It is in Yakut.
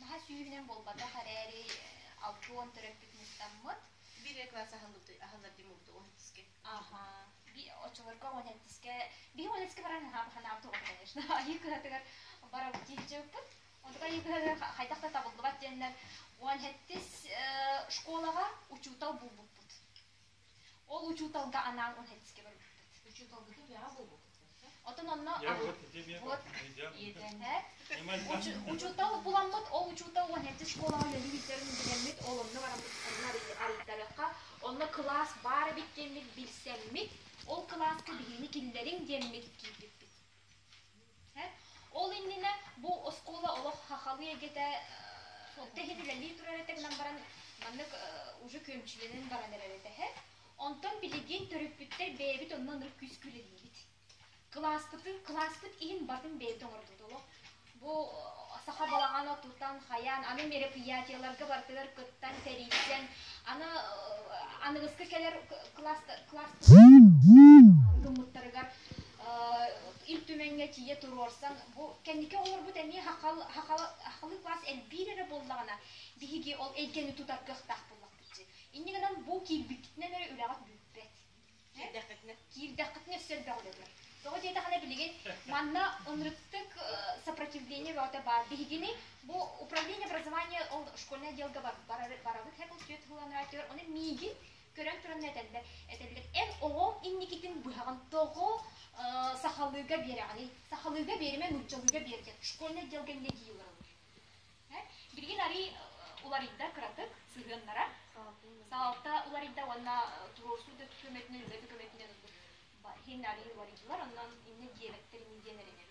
наһаа сүүһүнэн буолбатах эрээри алта уон төрөппүт мустаммыт бирэ класс аһыллар дим урду он тиske аха би оччолорго он эттиske би он этиske баран ханааб туга конечно айыы кыһатыгар бара тиһичэппут онтука айыы кыһатыгар хайдах да табыллыбат диэннэр он эттис школаға учуутал булбуппут Ол учууталга анаан он хэтискэ барбыппыт. Учууталбытын үөҕэ булбуппут. Оттон онно вот учуутал буламмыт, ол учуутал он хэтти школаҕа үлэни бүтэрин билэммит, ол онно баран мустарынан арыйтарыахха. Онно кылаас баар эбит диэммит, билсэммит, ол кылааска биһигини киллэриҥ диэммит киирбиппит. Ол иннинэ бу оскуола олох сахалыы эйгэтэ онто иһин үлэлии турар этэ гынан баран маннык уже күөмчүлэнэн баран эрэр этэ үһэ. Онтон билигин төрөппүттэр бэйэбит онно ынырык күүскэ үлэлиибит. Кылааспытын, кылааспыт иһин батын бэйэбит оҥорбут олох. Бу саха балаҕан отутан хайаан аны мероприятиеларга барытыгар кыттан сэрийсэн аны аныгыскы кэлэр класс гыммыттарыгар Ил Түмэҥҥэ тиийэ туруорсан бу кэнники оҕолорбут эмиэ хахалы класс элбиир эрэ буоллаҕына биһиги ол эйгэни тутар кыахтаах буоллахпыт дии иннигинэн бу киирбиккитинэн эрэ үлэҕит бүппэт Киирдэххитинэ. Киирдэххитинэ өссө өрбөҕүлэтэр. Тоҕо диэтэххинэ билигин манна оннуктык сопротивление бөҕөтө баар. Биһигини бу управление образования ол школьнай отделга барабыт һэ бултует хыланара түөр. Оны миигин көрөн туран этэллэр этэллэр эр оҕом инникитин быһаҕын тоҕо сахалыыга биэрэҕиний сахалыыга биэримэ нууччалыыга биэрдэ школьнай отделга инники Билигин арый уларыйда кыратык сыһыаннара. Салалта уларыйда уонна туруорсуу да көмөтүнэн, үлэ да көмөтүнэн ылбыт иһин арый уларыйдылар, онон иннэ диэбэттэр ини диэн эрэнэбит.